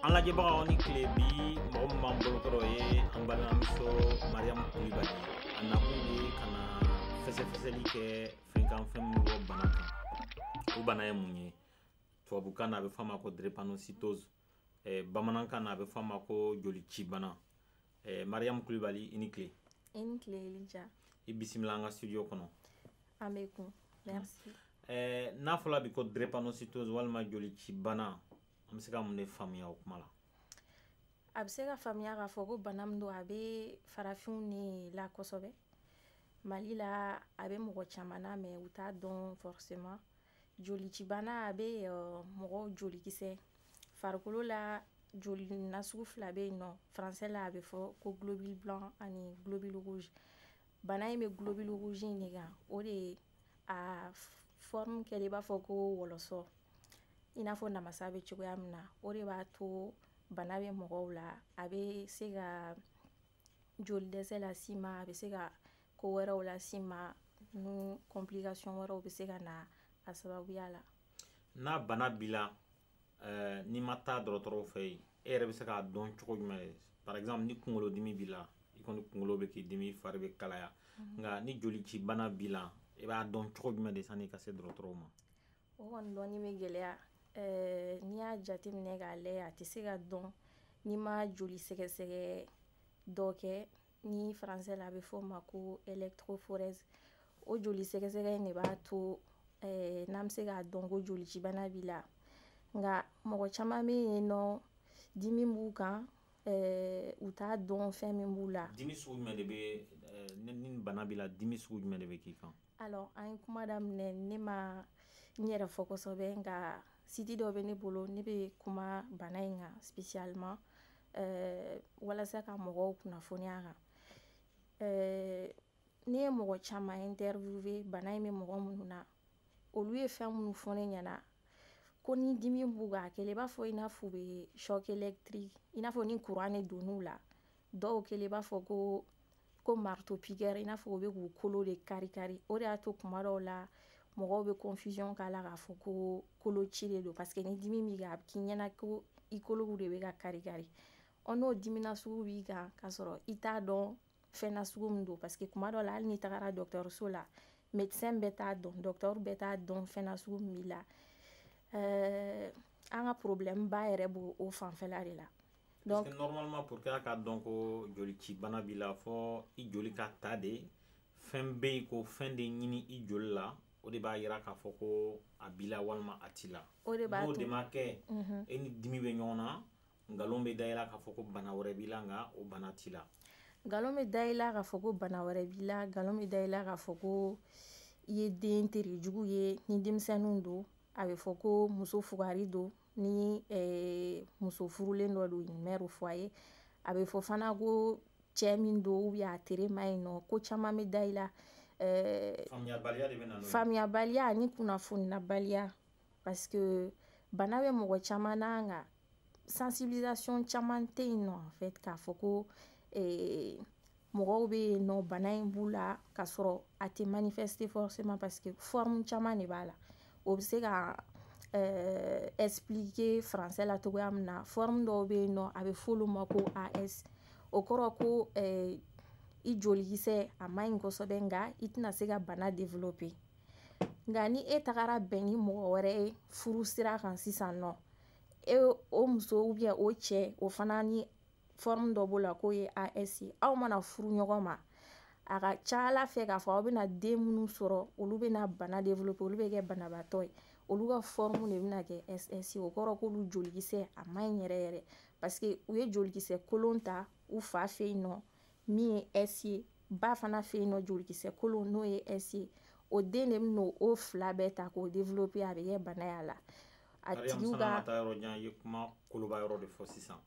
an lajɛbagaw ni tile bi mɔgɔ min b'an bolokɔrɔ ye an balimamuso mariyamu kulibali a nakun ye ka na fɛsɛfɛsɛli kɛ fɛn kan fɛn min bɔ bana kan o bana ye mun ye tubabukan na a bɛ fɔ a ma ko drépanocytose eh, bamanankan na a bɛ fɔ a ma ko jolicibana eh, mariyamu kulibali i ni tile i ni tile elija i bisimila an ka studio kɔnɔ an bɛ kun merci eh, n'a fɔla bi ko drépanocytose walima jolicibana an bɛ se ka mun de faamuya o kuma la a bɛ se ka faamuya k'a fɔ ko bana min don a bɛ farafinw ne la kosɛbɛ mali la a bɛ mɔgɔ caman na mais u t'a dɔn forcément jolicibana a bɛ uh, mɔgɔ jolikisɛ farikolo la joli nasugu fila bɛ yen nɔ français la a bɛ fɔ ko globule blanc ani globule rouge bana in bɛ globule rouge in de kan o de a forme kɛlen i b'a fɔ ko wɔlɔsɔ i n'a fɔ namasa bɛ cogoya min na o de b'a to bana bɛ mɔgɔw la a bɛ se ka joli dɛsɛ las'i ma a bɛ se ka ko wɛrɛw las'i ma n'u complication wɛrɛw bɛ se ka na a sababuya la n'a bana b'i la eh, n'i ma taa dɔgɔtɔrɔw fɛ yen e yɛrɛ bɛ se k'a dɔn cogo jumɛn de par exemple ni kunkolodimi b'i la i kɔni kunkolo bɛ k'i dimi fari bɛ kalaya mhm. nka ni jolicibana b'i la i b'a dɔn cogo jumɛn de sanni i ka se dɔgɔtɔrɔw ma o kɔni dɔnni bɛ gɛlɛya eh, n'i y'a jateminɛ k'a lajɛ a tɛ se ka dɔn n'i ma joli sɛgɛsɛgɛ dɔ kɛ ni français la a bɛ fɔ o ma ko électrophorèse o joli sɛgɛsɛgɛ in de b'a to eh, n'an bɛ se k'a dɔn ko jolicibana b'i la nka mɔgɔ caman bɛ yen nɔ dimi b'u kan eh, u t'a dɔn fɛn min b'u la dimi sugu jumɛn de bɛ eh, ni ni bana b'i la dimi sugu jumɛn de bɛ k'i kan alors an ye kuma daminɛ ne ma n yɛrɛ fɔ kosɛbɛ nka site dɔ bɛ ne bolo ne bɛ kuma bana in kan spécialement eh, walasa ka mɔgɔw kunnafoni a kan eh, ne ye mɔgɔ caman interviewé bana in bɛ mɔgɔ minnu na olu ye fɛn minnu fɔ ne ɲɛna ko ni dimi b'u kan a kɛlen i b'a fɔ i n'a fɔ u bɛ choc électrique i n'a fɔ ni courant de donn'u la dɔw kɛlen i b'a fɔ ko ko marteau piqueur i n'a fɔ u bɛ k'u kolo de kari kari o de y'a to tuma dɔw la mɔgɔw bɛ confusion k'a la k'a fɔ ko koloci de don parce que ni dimi b'i kan a bɛ k'i ɲɛna ko i kolow de bɛ ka kari kari ɔ n'o dimi nasugu b'i kan k'a sɔrɔ i t'a dɔn fɛn nasugu min don parce que tuma dɔw la hali n'i tagara dɔgɔtɔrɔso la médecin bɛɛ t'a dɔn dɔgɔtɔrɔ bɛɛ t'a dɔn fɛn nasugu min b'i la ɛɛ an ka problème ba yɛrɛ b'o o fanfɛla de la Donc, Parce que normalement pour que a ka dɔn ko jolicibana b'i la fɔ i joli ka ta de fɛn bɛ yen ko fɛn de ɲini i joli la o de b'a yira k'a fɔ ko a b'i la walima a t'i la n'o de ma kɛ mhm. e ni dimi bɛ ɲɔgɔn na nkalon bɛ da i la k'a fɔ ko bana wɛrɛ b'i la nka o bana t'i la nkalon bɛ da i la k'a fɔ ko bana wɛrɛ b'i la nkalon bɛ da i la k'a fɔ ko i ye den terejugu ye ni denmisɛnninw don a bɛ fɔ ko muso fugari don ni eh, muso furulen dɔ don mère au foyer a bɛ fɔ fana ko cɛ min don ou bien a tere man ɲi nɔ ko caman bɛ da i la eh, faamuyabaliya ani kunnafoninabaliya parce que bana bɛ mɔgɔ caman na nka sensibilisation caman tɛ yen nɔ en fait k'a fɔ ko eh, mɔgɔw bɛ yen nɔ bana in b'u la k'a sɔrɔ a tɛ manifester forcément parce que forme caman de b'a la o bɛ se ka euh, expliquer français la cogoya min na forme dɔw bɛ yen nɔ a bɛ f'olu ma ko AS o kɔrɔ ko euh, i jolikisɛ a man ɲi kosɛbɛ nka i tɛna se ka bana développer nka ni e tagara bɛn ni mɔgɔ wɛrɛ ye furu sira kan sisan nɔ eh, o muso ou bien o cɛ o fana ni forme dɔ b'o la k'o ye AS ye aw mana furu ɲɔgɔn ma a ka ca a la fɛ k'a fɔ aw bɛna den minnu sɔrɔ olu bɛna bana développer olu bɛ kɛ banabaatɔ ye olu ka forme de bɛna kɛ SS o kɔrɔ k'olu jolikisɛ a ma ɲi yɛrɛ yɛrɛ parce que u ye jolikisɛ kolon ta u fa fɛ yen nɔ min ye S ye ba fana fɛ yen nɔ jolikisɛ kolon n'o ye S ye o den de bɛna o fila bɛɛ ta k'o développer a bɛ kɛ bana y'a la a tigiw ka Mariam taa yɔrɔ jan i ye kuma koloba yɔrɔ de fɔ sisan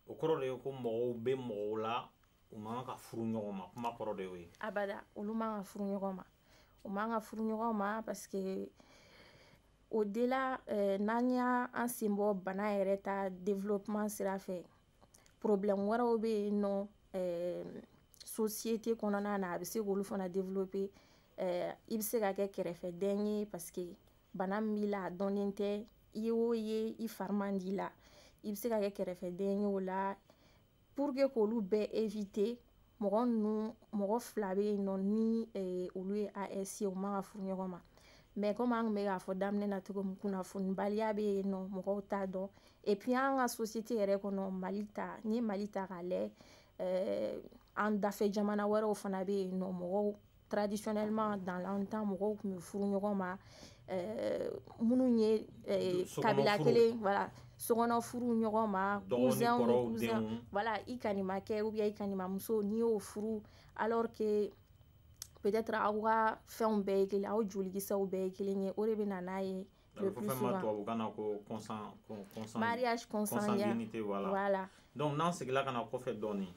o kɔrɔ de ye ko mɔgɔw bɛ mɔgɔw la u man ka furu ɲɔgɔn ma kuma kɔrɔ de y'o ye abada olu man ka furu ɲɔgɔn ma u man ka furu ɲɔgɔn ma parce que o de la eh, n'an y'an sen bɔ bana yɛrɛ ta développement sira fɛ problème wɛrɛw bɛ yen nɔ eh, société kɔnɔna na a bɛ se k'olu fana développer eh, i bɛ se ka kɛ kɛrɛfɛden ye parce que bana min b'i la a dɔnnen tɛ i ye o ye i fari man di la i bɛ se ka kɛ kɛrɛfɛden ye o la pour que k'olu bɛɛ éviter mɔgɔ ninnu mɔgɔ fila bɛ yen nɔ ni eh, olu ye AS ye u man ka furu ɲɔgɔn ma mais comme an tun bɛ k'a fɔ daminɛ na cogo min kunnafonibaliya bɛ yen nɔ mɔgɔw t'a dɔn et puis an ka société yɛrɛ kɔnɔ Mali ta n'i ye Mali ta k'a lɛ euh, an dafɛ jamana wɛrɛw fana bɛ yen nɔ mɔgɔw traditionnellement dans le temps mɔgɔw tun bɛ furu ɲɔgɔn ma euh, minnu ye euh, kabila kelen voilà sokɔnɔ furu ɲɔgɔn ma cousin ni cousin voilà i kanimakɛ ou bien i kanimamuso n'i y'o furu alors que peut-être aw ka fɛnw bɛɛ ye kelen aw jolikisɛw bɛɛ ye kelen ye o de bɛ na n'a ye euh, Le plus souvent. Mariage consanguinité, voilà. voilà. Donc, n'an segila ka na kɔfɛ dɔɔni.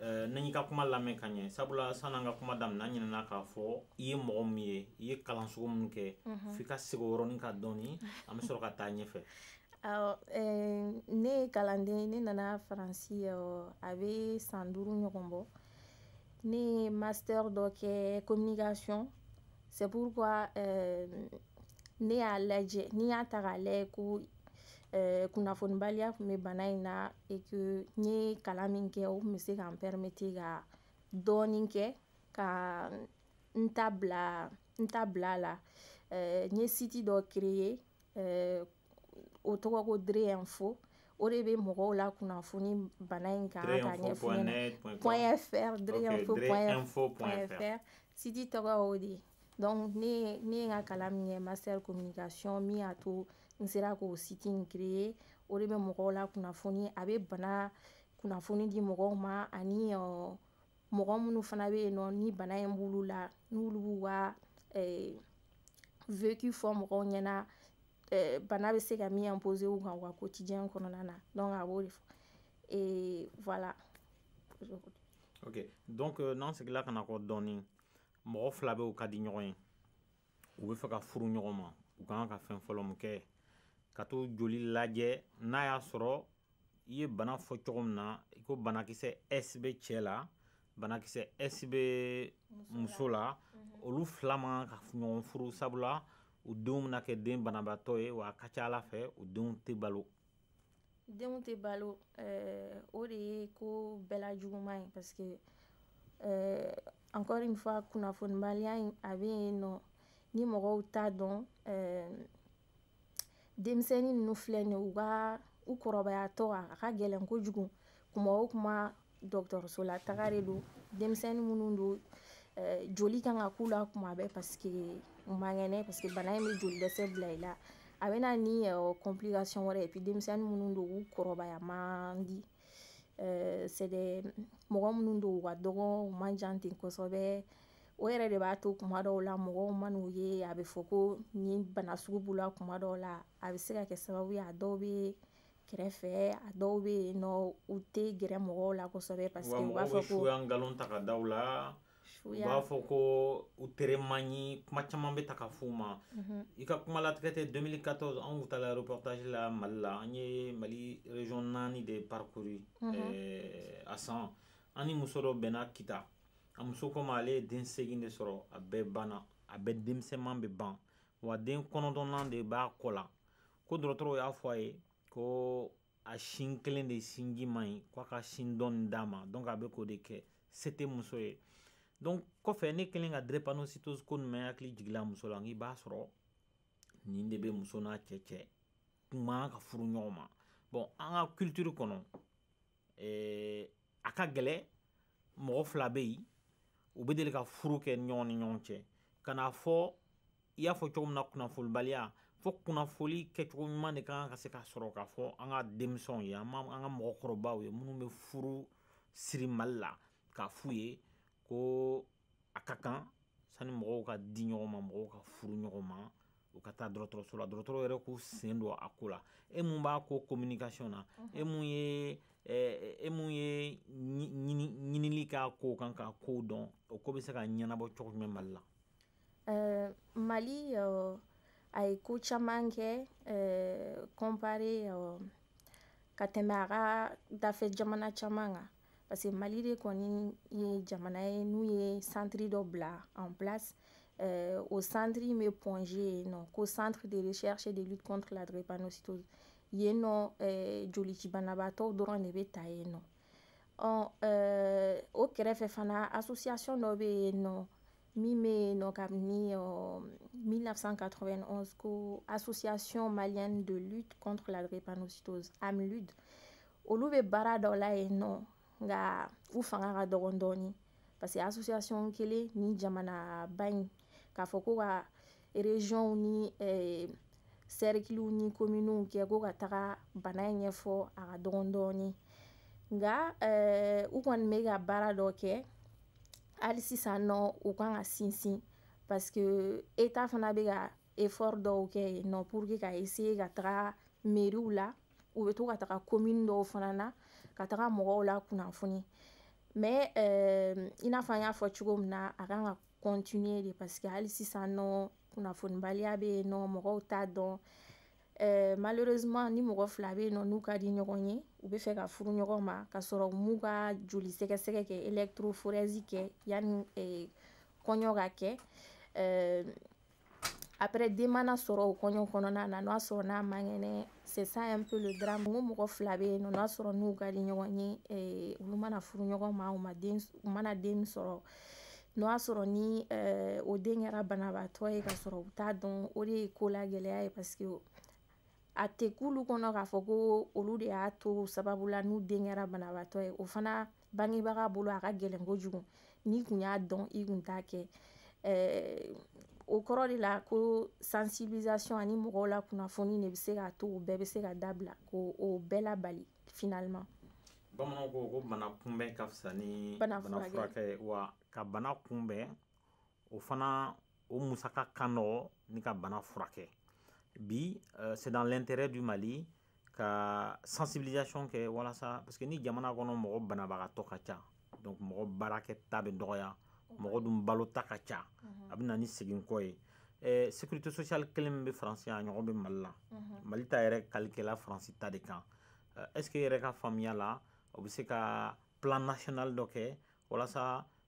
Euh, n'an y'i ka kuma lamɛn ka ɲɛ sabula san n'an ka kuma daminɛ an ɲinɛna k'a fɔ i ye mɔgɔ min ye i ye kalan sugu minnu kɛ mhm. f'i ka segin o yɔrɔnin kan dɔɔni an bɛ sɔrɔ ka taa ɲɛfɛ awɔ euh, ne ye kalanden ne nana faransi euh, a bɛ san duuru ɲɔgɔn bɔ ne ye master dɔ kɛ communication C'est pourquoi euh, ne y'a lajɛ n'i y'a ta k'a lajɛ ko euh, kunnafonibaliya tun bɛ bana in na et que n ye kalan min kɛ o tun bɛ se ka n permettre ka dɔɔnin kɛ ka n ta bila n ta bila a la euh, n ye site dɔ créer euh, o tɔgɔ ko Dre Info o de bɛ mɔgɔw lakunnafoni bana in kan ka ɲɛfɔ point fr Dre Info point fr site tɔgɔ o de ye donc ne ne ye n ka kalan min kɛ master communication min y'a to n sera k'o site in créer o de bɛ mɔgɔw lakunnafoni a bɛ bana kunnafoni di mɔgɔw ma ani uh, mɔgɔ minnu fana bɛ yen nɔ ni bana in b'olu la n'olu b'u ka eh, vécu fɔ mɔgɔw ɲɛna eh, bana bɛ se ka min imposer u kan u ka quotidien kɔnɔna na donc a b'o de fɔ eh, voilà ok donc euh, n'an segila ka na kɔ dɔɔni mɔgɔ fila bɛ u ka di ɲɔgɔn ye u bɛ fɛ ka furu ɲɔgɔn ma u kan ka fɛn fɔlɔ min kɛ ka t'u joli lajɛ n'a y'a sɔrɔ i ye bana fɔ cogo min na i ko banakisɛ s bɛ cɛ la banakisɛ s bɛ muso la mhm. olu fila man kan ka ɲɔgɔn furu sabula u denw bɛna kɛ den banabaatɔ ye wa a ka ca a la fɛ u denw tɛ balo denw tɛ balo eh, o de ye ko bɛɛ la juguman ye parce que eh, encore une fois kunnafonibaliya in a bɛ yen nɔ ni mɔgɔw t'a dɔn eh, denmisɛnnin ninnu filɛ nin u ka u kɔrɔbayatɔ a ka gɛlɛn kojugu kuma o kuma dɔgɔtɔrɔso la taga de don denmisɛnnin minnu don eh, joli kan ka k'u la kuma bɛɛ parce que u man kɛnɛ parce que bana in bɛ joli dɛsɛ bila i la a bɛ na ni eh, complication wɛrɛ ye et puis denmisɛnnin minnu don u kɔrɔbaya man di euh, c'est des mɔgɔ minnu don u ka dɔgɔ u man jan ten kosɛbɛ o yɛrɛ de b'a to kuma dɔw la mɔgɔw man'u ye a bɛ fɔ ko nin bana sugu b'u la kuma dɔw la a bɛ se ka kɛ sababu ye a dɔw bɛ kɛrɛfɛ a dɔw bɛ yen nɔ u tɛ gɛrɛ mɔgɔw la kosɛbɛ parce que u b'a fɔ ko nkalon ta ka daw la u b'a fɔ ko u tere man ɲi kuma caman bɛ ta ka f'u ma mhm. i ka kuma latigɛ tɛ 2014 anw kun taala reportage la mali la an ye mali region naani de parcouru mhm. eh, a san an ni muso dɔ bɛnna kita a muso ko n ma ale ye den segin de sɔrɔ a bɛɛ banna a bɛɛ denmisɛnman bɛ ban wa den kɔnɔntɔnnan de b'a kɔ la ko dɔgɔtɔrɔw y'a fɔ a ye ko a sin kelen de sinji man ɲi ko a ka sin dɔ nin d'a ma donc a bɛ k'o de kɛ se tɛ muso ye donc kɔfɛ ne kɛlen ka drepanocytose ko nin mɛ n hakili jigila muso la nk'i b'a sɔrɔ nin de bɛ muso n'a cɛ cɛ kun man ka furu ɲɔgɔn ma bon an ka culture kɔnɔ ɛɛ eh, a ka gɛlɛ mɔgɔ fila bɛ yen u bɛ deli ka furu kɛ ɲɔgɔn ni ɲɔgɔn cɛ nka n'a fɔ i y'a fɔ cogo min na kunnafonibaliya fo kunnafoli kɛcogo ɲuman de kan ka se ka sɔrɔ k'a fɔ an ka denmisɛnw ye an an ka mɔgɔkɔrɔbaw ye minnu bɛ furu siri mali la k'a f'u ye ko a ka kan sani mɔgɔw ka di ɲɔgɔn ma mɔgɔw ka furu ɲɔgɔn ma u ka taa dɔgɔtɔrɔso la dɔgɔtɔrɔw yɛrɛ k'u sen don a ko la e mun b'a ko communication na e mun ye e mun ye ɲinili k'a ko kan k'a kow dɔn o ko bɛ se ka ɲɛnabɔ cogo jumɛn mali la eh, mali eh, a ye ko caman kɛ eh, comparé ka tɛmɛ a ka dafɛ jamana caman kan parce que mali de kɔni ye jamana ye n'u ye centre dɔ bila en place euh, o centre in bɛ point g yen nɔ ko centre de recherche et de lutte contre la drépanocytose yen nɔ euh, jolicibanabaatɔw dɔrɔn de bɛ taa yen nɔ ɔ euh, o kɛrɛfɛ fana association dɔ bɛ yen nɔ min bɛ yen nɔ kabini ɔ 1991 ko association malienne de lutte contre la drépanocytose amlud olu bɛ baara dɔ la yen nɔ nka u fanga ka dɔgɔn dɔɔni parce que association kelen ni jamanaba in k'a fɔ ko ka regionw ni eh, sɛrikiliw ni kominiw kɛ ko ka taga bana in ɲɛfɔ a ka dɔgɔn dɔɔni nka eh, u kɔni bɛ ka baara dɔ kɛ hali sisan nɔ u kan ka sinsin parce que état fana bɛ ka effort dɔw kɛ yen nɔ pour que ka essayer ka taga meriw la u bɛ to ka taga komini dɔw fana na ka taga mɔgɔw lakunnafoni mais euh, i n'a fɔ an y'a fɔ cogo min na a kan ka continuer de parce que hali sisan nɔ kunnafonibaliya bɛ yen nɔ mɔgɔw t'a dɔn euh, malheureusement ni mɔgɔ fila bɛ yen nɔ n'u ka di ɲɔgɔn ye u bɛ fɛ ka furu ɲɔgɔn ma ka sɔrɔ u m'u ka joli sɛgɛsɛgɛ kɛ électrophorèse kɛ yanni euh, kɔɲɔ ka kɛ après den mana sɔrɔ o kɔɲɔ kɔnɔna na n'o y'a sɔrɔ n'a man kɛnɛ c'est ça un peu le drame n ko mɔgɔ fila bɛ yen nɔ n'o y'a sɔrɔ n'u ka di ɲɔgɔn ye eh, olu mana furu ɲɔgɔn ma u ma den u mana den sɔrɔ n'o y'a sɔrɔ ni eh, o den kɛra banabaatɔ ye ka sɔrɔ u t'a dɔn o de ye ko la gɛlɛya ye parce que a tɛ k'olu kɔnɔ k'a fɔ ko olu de y'a to sababu la n'u den kɛra banabaatɔ ye o fana bangebaga bolo a ka gɛlɛn kojugu n'i kun y'a dɔn i kun t'a kɛ eh, o kɔrɔ de la ko sensibilisation ani mɔgɔw lakunnafoni de bɛ se k'a to o bɛɛ bɛ se ka dabila k'o bɛɛ labali finalement bamananw ko ko bana kunbɛn ka fisa ni bana furakɛ wa ka bana kunbɛn o fana o musaka ka nɔgɔn ni ka bana furakɛ bi euh, c'est dans l'intérêt du mali ka sensibilisation kɛ walasa parce que ni jamana kɔnɔ mɔgɔ banabagatɔ ka ca donc mɔgɔ baarakɛta bɛ dɔgɔya mɔgɔ dun balota ka ca mhm. a bɛ na ni segin kɔ ye eh, sécurité sociale kelen min bɛ faransi a ɲɔgɔn bɛ mali la mhm. mali ta yɛrɛ kalikɛla faransi ta de kan euh, est ce que e yɛrɛ ka faamuya la o bɛ se ka plan national dɔ kɛ walasa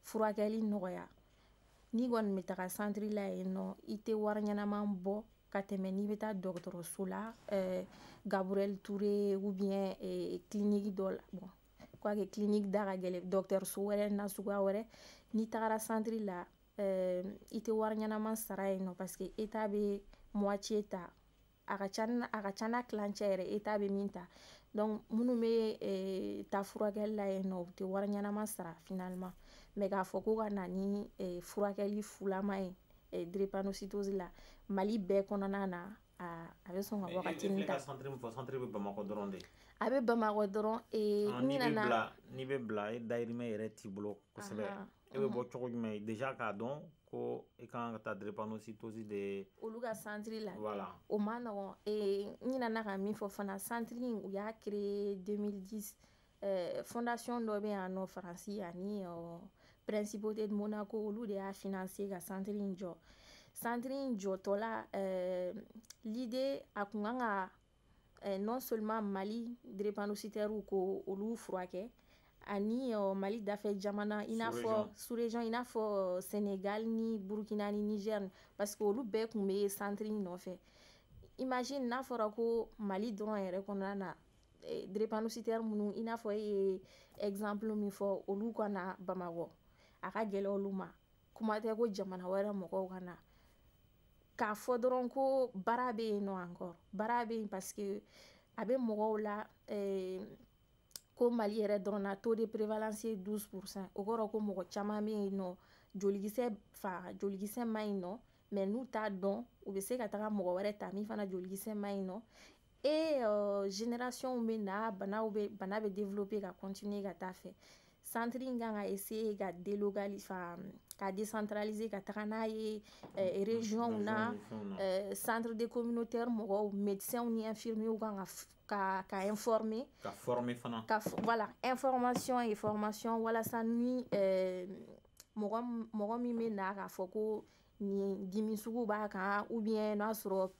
furakɛli nɔgɔya n'i kɔni bɛ taga santiri la yen nɔ i tɛ wari ɲɛnaman bɔ ka tɛmɛ n'i bɛ taa dɔgɔtɔrɔso la eh, gabriel touré ou bien eh, clinique dɔ la bon quoique clinique da ka gɛlɛn dɔgɔtɔrɔso wɛrɛ nasuguya wɛrɛ n'i tagara santiri la eh, i tɛ wari ɲɛnaman sara yen nɔ parce que état bɛ moitié ta a ka ca a ka ca n'a kilancɛ yɛrɛ état bɛ min ta donc minnu bɛ eh, taa furakɛli la yen nɔ u tɛ wari ɲɛnama sara finalement mais k'a fɔ ko ka na ni eh, furakɛli fulama ye eh, drépanocytose la mali bɛɛ kɔnɔna na a a bɛ sɔn ka wagatinin ta a bɛ bamakɔ dɔrɔn n'i bɛ bila n'i bɛ bila e dayirimɛ yɛrɛ t'i bolo kosɛbɛ e bɛ bɔ cogo jumɛn déjà k'a dɔn ko i ka kan ka taa drépanocytose de ye olu ka santiri la voilà. o ma nɔgɔn eh, n ɲinana ka min fɔ fana santiri in u y'a créé 2010 eh, fondation dɔ bɛ yan nɔ faransi ani uh, principauté de monaco olu de y'a financer ka santiri in jɔ santiri in jɔtɔ la eh, l'idée a kun kan ka eh, non seulement mali drépanocytaires k'olu furakɛ ani uh, mali dafɛ jamana i n'a fɔ sous-région i n'a fɔ uh, sénégal ni burkina ni niger parce que olu bɛɛ kun bɛ centre in nɔfɛ imagine n'a fɔra ko mali dɔrɔn yɛrɛ kɔnɔna na eh, drépanocytaires minnu i n'a fɔ e ye exemple min fɔ olu ka na bamakɔ a ka gɛlɛn olu ma kuma tɛ ko jamana wɛrɛ mɔgɔw ka na k'a fɔ dɔrɔn ko baara bɛ yen nɔ encore baara bɛ yen parce que a bɛ mɔgɔw la eh, ko Mali yɛrɛ dɔrɔn na taux de prévalence ye 12 pourcent o kɔrɔ ko mɔgɔ caman bɛ yen nɔ jolikisɛ fa jolikisɛ ma ɲi nɔ mais n'u t'a dɔn u bɛ se ka taga mɔgɔ wɛrɛ ta min fana jolikisɛ ma ɲi nɔ e uh, génération bɛ na banaw bɛ bana bɛ développer ka continuer ka taa fɛ centre in kan ka essayer ka délocaliser enfin, ka décentraliser ka taga n'a ye eh, région na eh, centre de communautaire mɔgɔw médecins ni infirmiers kan ka ka ka informer ka former fana ka voilà information et formation walasa ni eh, mɔgɔ mɔgɔ min bɛ na k'a fɔ ko nin dimi sugu b'a kan ou bien n'a sɔrɔ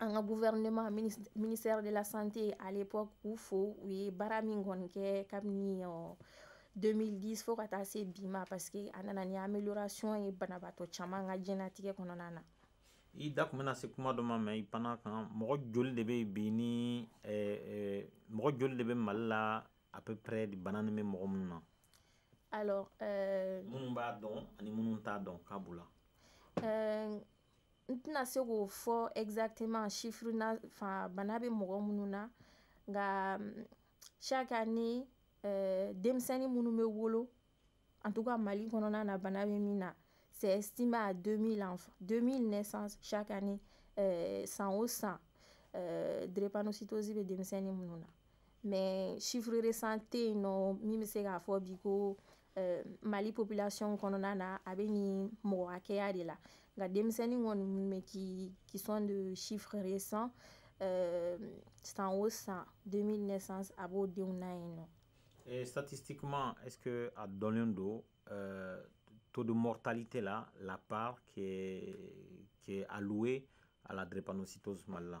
an ka gouvernement ministère de la santé à l'époque k'u fo u ye baara min kɔni kɛ kabini 2010 fo ka taa se bi ma parce que a nana ni amélioration ye banabaatɔ caman ka diɲɛnatigɛ kɔnɔna na i da tun bɛna se kuma dɔ ma mais i panna a kan mɔgɔ joli de bɛ bi ni mɔgɔ joli de bɛ Mali la à peu près bana nin bɛ mɔgɔ minnu na alors minnu b'a dɔn ani minnu t'a dɔn k'a b'u la n tɛna se k'o fɔ exactement chiffre na fa bana bɛ mɔgɔ minnu na nka chaque année euh, denmisɛnnin minnu bɛ wolo en tout cas Mali kɔnɔna na bana bɛ min na c'est estimé à 2000 enfants 2000 naissances chaque année euh, san o san euh, drépanocytose bɛ denmisɛnnin minnu na mais chiffre récent tɛ yen nɔ min bɛ se k'a fɔ bi ko Mali populasi kɔnɔna na a bɛ nin mɔgɔ hakɛya de la nka denmisɛnnin kɔni minnu bɛ k kisɔn de sifree san san o san den a b'o denw na yen nɔ satisi kuma es a dɔnnen don to don mɔ tali tɛ la lap ke aliwe a la depsito zuma la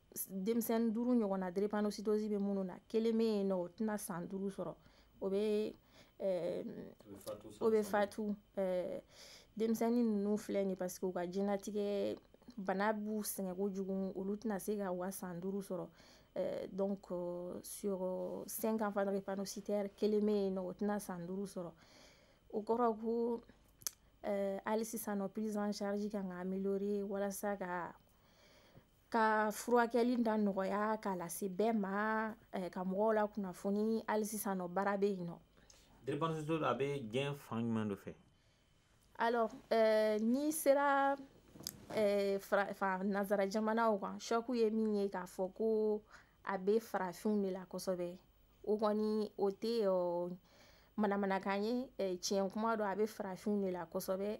denmisɛnnin duuru ɲɔgɔn na drépanocytose bɛ minnu na kelen bɛ yen nɔ o tɛna san duuru sɔrɔ o bɛ o bɛ fatu denmisɛnnin ninnu filɛ nin parce que u ka diɲɛnatigɛ bana b'u sɛgɛn kojugu olu tɛna se ka u ka san duuru sɔrɔ donc sur cinq enfants drépanocytaires kelen bɛ yen nɔ o tɛna san duuru sɔrɔ o kɔrɔ ko hali sisan nɔ prise en charge kan ka améliorer walasa ka ka furakɛli da nɔgɔya k'a lase bɛɛ ma eh, ka mɔgɔw lakunnafoni hali sisan nɔ baara bɛ yen nɔ drépanocytose a bɛ diɲɛ fan jumɛn de fɛ alors eh, n'i sera eh, nazara jamanaw kan ce qu'u ye min ye k'a fɔ ko a bɛ farafinw de la kosɛbɛ o kɔni o tɛ manamanakan ye tiɲɛ kuma don a bɛ farafinw de la kosɛbɛ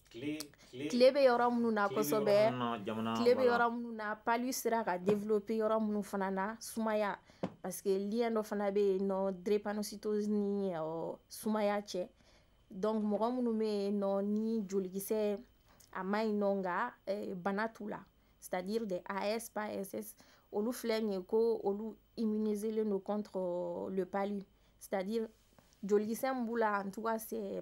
tile bɛ yɔrɔ minnu na kosɛbɛ tile bɛ yɔrɔ minnu na palu sera ka développer yɔrɔ minnu fana na sumaya parce que lien dɔ fana bɛ yen nɔ drépanocytose ni sumaya cɛ donc mɔgɔ minnu bɛ yen nɔ ni jolikisɛ a ma ɲi nɔ nka eh, bana t'u la c'est à dire des as pas ss olu filɛ nin ye ko olu immuniselen don contre le palu c'est à dire jolikisɛ min b'u la en tout cas c'est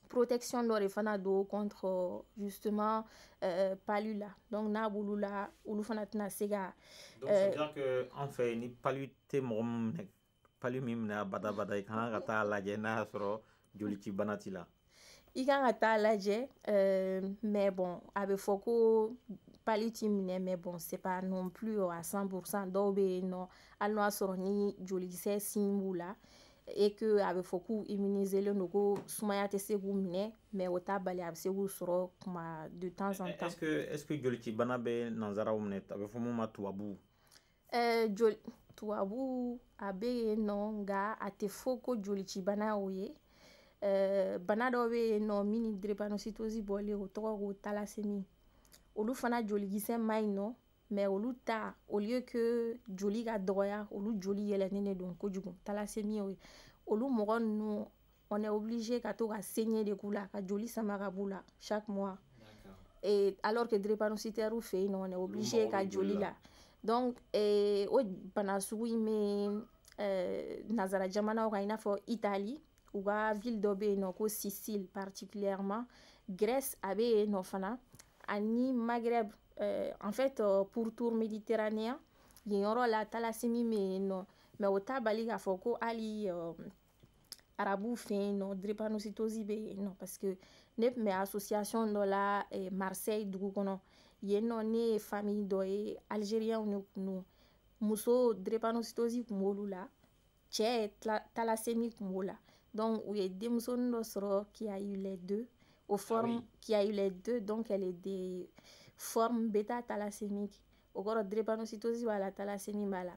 protection dɔ de fana don contre justement euh, palu la donc n'a b'olu la olu fana tɛna se ka. donc c'est dire que en fait ni palu tɛ mɔgɔ min minɛ palu min minɛ abada abada i kan ka taa lajɛ n'a y'a sɔrɔ jolicibana t'i la. i kan ka taa lajɛ euh, mais bon a bɛ fɔ ko palu t'i minɛ mais bon c'est pas non plus à 100% dɔw bɛ yen nɔ hali n'o y'a sɔrɔ ni jolikisɛ signe b'u la. et que a bɛ fɔ k'u immuniselen don ko sumaya tɛ se k'u minɛ mais o t'a bali a bɛ se k'u sɔrɔ kuma de temps en temps. est ce que est ce que jolicibana bɛ nanzaraw minɛ a bɛ fɔ mun ma tubabu. ɛɛ eh, joli tubabu a bɛ yen nɔ nka a tɛ fɔ ko jolicibana o ye. Eh, bana dɔ bɛ yen nɔ min ni drépanocytose bɔlen o tɔgɔ ko thalassémie olu fana jolikisɛ man ɲi nɔ mais olu ta au lieu que joli ka dɔgɔya olu joli yɛlɛnen de don kojugu thalassémie olu mɔgɔ ninnu on est obligé ka to ka saignée de k'u la ka joli sama ka b'u la chaque mois et alors que drépanocytaire fɛ yen nɔ on est obligé ka joli la donc eh, o bana sugu in bɛ eh, nazara jamanaw kan i n'a fɔ italie u ka ville dɔ bɛ yen nɔ ko sicile particulièrement grèce a bɛ yen nɔ fana ani maghreb Euh, en fait euh, pourtour méditerranéen yen yɔrɔ la thalassémie bɛ yen nɔ mais o t'a bali k'a fɔ ko hali euh, arabuw fɛ yen nɔ drépanocytose bɛ yen nɔ parce que ne tun bɛ association dɔ la eh, marseille dugu kɔnɔ yen nɔ ne ye famille dɔ ye algérienw de tun don muso drépanocytose tun b'olu la cɛ thalassémie kun b'o la donc u ye denmusonin dɔ sɔrɔ qui a eu les deux euh formes ah oui. qui a eu les deux donc elle est de forme bêta thalassémique o kɔrɔ drépanocytose b'a la thalassémie b'a la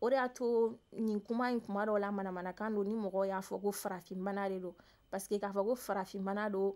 o de y'a to nin kuma in kuma dɔw la manamanakan don ni mɔgɔw y'a fɔ ko farafinbana de don parce que k'a fɔ ko farafinbana don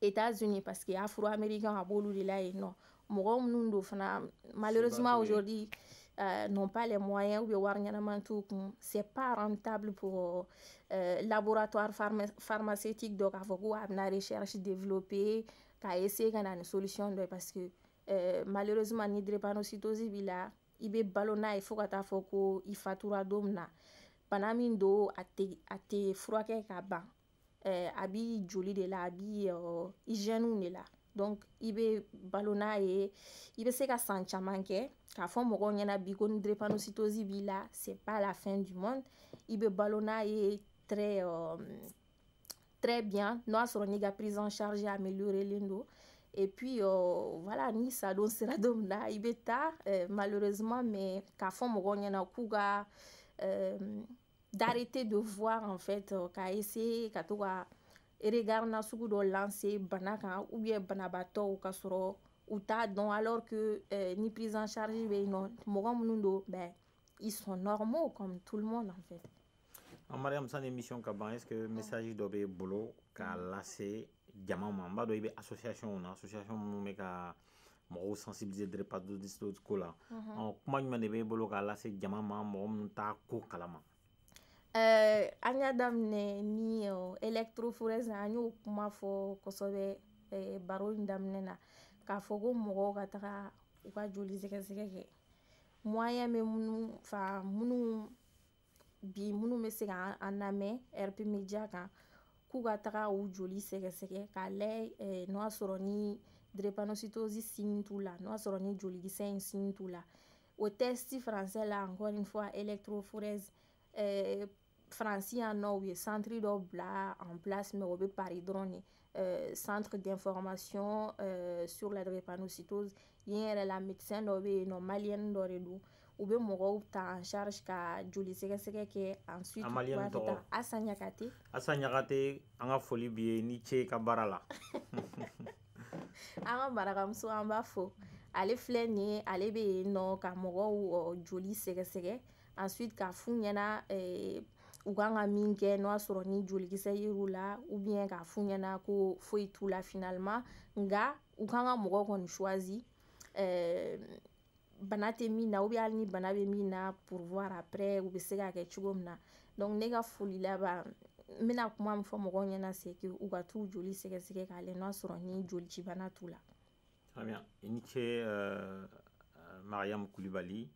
États-Unis parce que afro-américains a b'olu de la yen nɔ mɔgɔ minnu don fana malheureusement aujourd'hui euh, n'ont pas les moyens ou bien wari ɲɛnama t'u kun c'est pas rentable pour euh, laboratoire pharma pharmaceutique dɔ k'a fɔ ko a bɛna recherche développer ka essayer ka na ni solution dɔ ye parce que euh, malheureusement ni drépanocytose b'i la i bɛ balo n'a ye fo ka taa fɔ ko i fatura don min na bana min don a tɛ a tɛ furakɛ ka ban eh, a b'i joli de la a b'i uh, hygiène de la donc i bɛ balo n'a ye i bɛ se ka san caman kɛ k'a fɔ mɔgɔw ɲɛna bi ko ni drépanocytose b'i la c'est pas la fin du monde i bɛ balo n'a ye très uh, très bien n'o y'a sɔrɔ n'i ka prise en charge améliorelen don et puis uh, voilà ni sadon sera don min na i bɛ taa uh, malheureusement mais k'a fɔ mɔgɔw ɲɛna k'u ka uh, d'arrêter de voir en fait euh, k'a essayer ka to ka regard na sugu dɔ lancer bana kan ou bien banabaatɔw ka sɔrɔ u t'a dɔn alors que euh, ni prise en charge bɛ yen nɔ mɔgɔ minnu don ben ils sont normaux comme tout le monde en fait. an Mariam sani émission ka ban est-ce que message dɔ b'e bolo k'a lase jama ma n b'a dɔn i bɛ association na association minnu bɛ ka mɔgɔw sensibiliser drépanocytose ko la ɔ kuma jumɛn de b'e bolo k'a lase jama ma mɔgɔ minnu t'a ko kalama eh, an y'a daminɛ ni électrophorèse an y'o kuma fɔ kosɛbɛ eh, baro in daminɛ na k'a fɔ ko mɔgɔw ka taga u ka joli sɛgɛsɛgɛ kɛ moyen bɛ minnu fɛ minnu bi minnu bɛ se ka an lamɛn RP Média kan k'u ka taga u joli sɛgɛsɛgɛ k'a lajɛ eh, n'o y'a sɔrɔ ni drépanocytose signe t'u la n'o y'a sɔrɔ ni jolikisɛ in signe t'u la o test français la encore une fois électrophorèse eh, Faransi yan nɔ u ye centre dɔ bila en place mais o bɛ Paris dɔrɔn de Euh, centre d'information euh, sur la drépanocytose yen yɛrɛ la médecin dɔ bɛ yen nɔ maliyɛni dɔ de don u bɛ mɔgɔw ta en charge ka joli sɛgɛsɛgɛ kɛ ensuite u b'a fɛ ta Asa Ɲakate Asa Ɲakate an ka foli b'i ye ni ce ka baara la an ka marakamuso an b'a fo ale filɛ nin ye ale bɛ yen nɔ ka mɔgɔw joli sɛgɛsɛgɛ ensuite k'a f'u ɲɛna eh, u kan ka min kɛ n'o y'a sɔrɔ ni jolikisɛ yer'u la ou bien k'a f'u ɲɛna ko foyi t'u la finalement nka u kan ka mɔgɔ kɔni choisi eh, bana tɛ min na ou bien hali ni bana bɛ min na pour voir après u bɛ se ka kɛ cogo min na donc ne ka foli laban n bɛna kuma min fɔ mɔgɔw ɲɛna c'est que u ka t'u joli sɛgɛsɛgɛ k'a lajɛ n'o y'a sɔrɔ ni jolicibana t'u la. Très bien. I ni ce uh, Mariam Kulibali.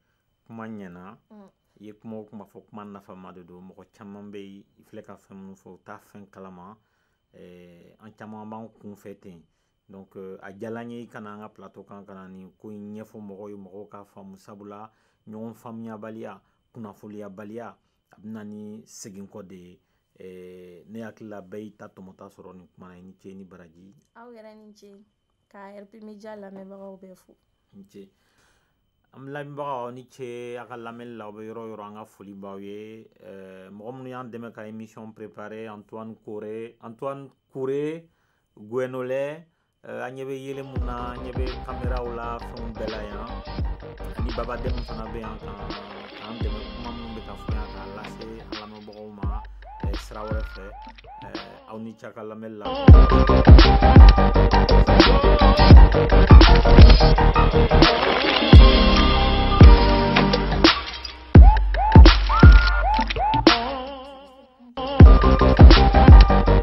kuma ɲɛna mm. i ye kuma o kuma fɔ kuma nafama de don mɔgɔ caman bɛ yen i filɛ ka fɛn minnu fɔ u t'a fɛn kalama eh, an caman b'an kunfɛ ten donc euh, a diyala n ye i ka na an ka plateau kan ka na nin ko in ɲɛfɔ mɔgɔw ye mɔgɔw k'a faamu sabula ɲɔgɔn faamuyabaliya kunnafoniyabaliya a bɛ na ni seginkɔ de ye eh, ne hakili la bɛɛ y'i ta tɔmɔta sɔrɔ nin kuma na i ni ce ni baraji aw yɛrɛ ni ce ka rp media lamɛnbagaw bɛɛ fo an lamɛnbagaw aw ni ce a ka lamɛnni la aw bɛ yɔrɔ yɔrɔ an ka foli b'aw ye eh, mɔgɔ minnu y'an dɛmɛ ka émission préparé antoine kore guenolɛ eh, an ɲɛ bɛ yeelen mun na an ɲɛ bɛ kameraw la fɛnw bɛɛ la yan ani baba dɛmu fana bɛ yan k'an dɛmɛ kuma minnu bɛ ka fɔ yan k'a lase an lamɛnbagaw ma eh, sira wɛrɛ fɛ aw ni ce a ka lamɛnli la